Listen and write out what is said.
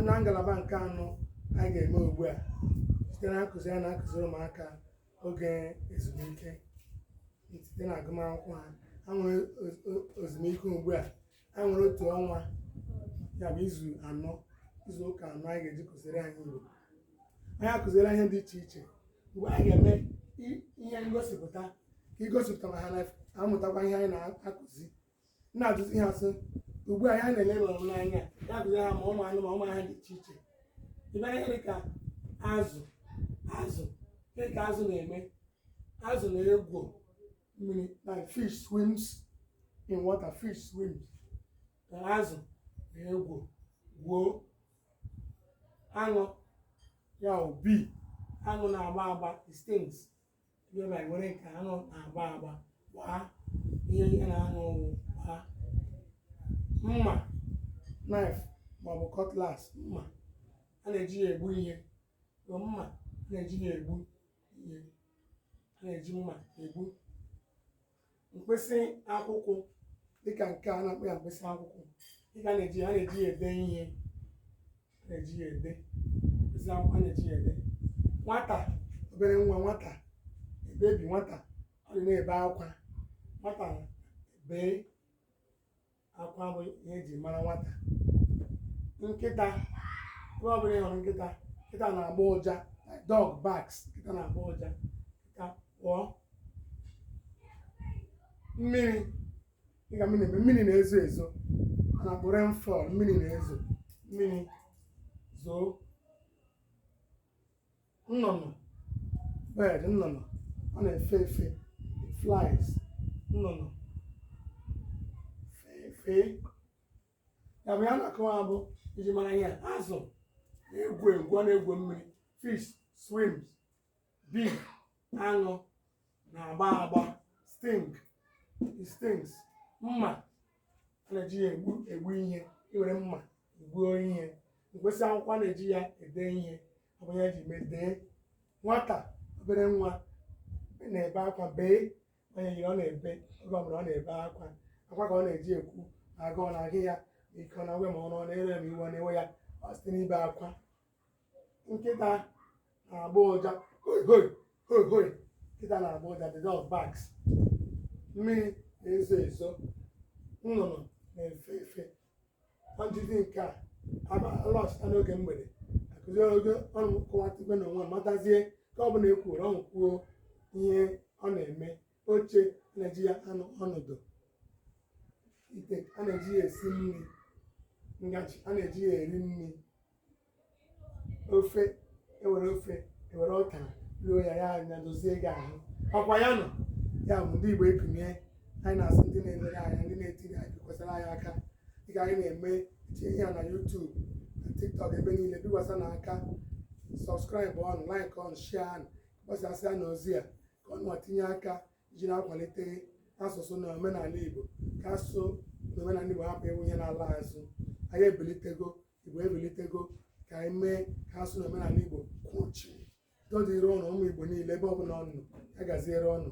na ngalaba nke anọ anyị ga-eme ugbu a site na nkụzi anyị na-akụziri ụmụaka oge ezumike site na agụmakwụkwọ ha ha nwere ezumike ugbu a ha nwere otu ọnwa ya bụ izu anọ izu ụka anọ anyị ga-eji kụziri anyị Igbo anyị akụziri ihe dị iche iche ugbu a anyị ga-eme ihe ngosipụta ka igosipụta ma ha na-amụtakwa ihe anyị na-akụzi na-ajụzi ha sị ugbu a anyị na-ele lụrụ m n'anya anyị akụziri ha ma ụmụ anụ ma ụmụ ihe dị iche iche ịbịa ihe dị ka azụ azụ dị ka azụ na-eme azụ na-egwu mmiri na fish swims in water fish swims na azụ na-egwu gwuo aṅụ ya bụ bee aṅụ na-agba agba it stings ịbịa were nke aṅụ na-agba agba gbaa ihe ihe na aṅụ ọ bụ gbaa mma knife maọbụ cutlass mma a na-eji ya egbu ihe so mma a na-eji ya egbu ihe a na-eji mma egbu mkpịsị akwụkwọ dịka nke a na-akpọ ya mkpịsị akwụkwọ dịka a na-eji a na-eji ya ede ihe a na-eji ya ede mkpịsị akwụkwọ a na-eji ya ede nwata obere nwa nwata bebi nwata ọ na-ebe akwa nwata bee akwa bụ ihe eji mara nwata nkịta ebe ọ bụla ị hụrụ nkịta nkịta na-agbọ ụja dog barks nkịta na-agbọ ụja nkịta gbọọ mmiri dịka mmiri na-eme mmiri na-ezo ezo a na-akpọ rainfall mmiri na-ezo mmiri zoo nnụnụ bird nnụnụ ọ na-efe efe it flies nnụnụ fee fee ya bụ ihe a na-akọwa bụ njirimara ihe a, azụ na-egwu egwu ọ na-egwu mmiri fish swims bee aṅụ na-agba agba sting it stings mma na-eji ya egbu egbu ihe i were mma gbuo ihe mkpịsị akwụkwọ a na-eji ya ede ihe ọ bụ ya e ji mee dee nwata obere nwa na-ebe akwa bee onye yiri ọ na-ebe oge ọbụla ọ na-ebe akwa akwa ka ọ na-eji ekwu na agụụ na-agụ ya ma ike ọ na-agwụ ya ma ọrụ ọ na-ere ma iwe ọ na-ewe ya ọ site n'ibe akwa nkịta na-agba ụja hoi hoi hoi hoi nkịta na-agba ụja the dog barks mmiri na-ezo ezo nnụnụ na-efe efe ọdịdị nke a alọchịta n'oge mgbede akụzi oge ụnụ kọwatịkwe na onwe matazie nke ọ bụla e kwuoro ụnụ kwuo ihe ọ na-eme oche a na-eji ya anọ ọnọdụ ite a na-eji ya esi nri ngaji a na-eji ya eri nri ofe e were ofe e were ọka ruo ya ya anya dozie gị ahụ ọkwa ya nọ ya bụ ndị Igbo ekumie anyị na-asị ndị na-elere anyị ndị na-ekiri anyị kwesịrị anyị aka dịka anyị na-eme tinye ya na YouTube na TikTok ebe niile bikwasanụ aka subscribe nụ like nụ share nụ gbasasịanụ ozi a ka ụnụ tinye aka iji na-akwalite asụsụ na omenala Igbo ka asụsụ na omenala Igbo hapụ ịwụ ihe na-ala azụ anyị ebilitego Igbo ebilitego ka anyị mee ka asụsụ na omenala Igbo kwuchie udo dịrị ụnụ ụmụ Igbo niile ebe ọbụla ụnụ nọ ya gaziere ụnụ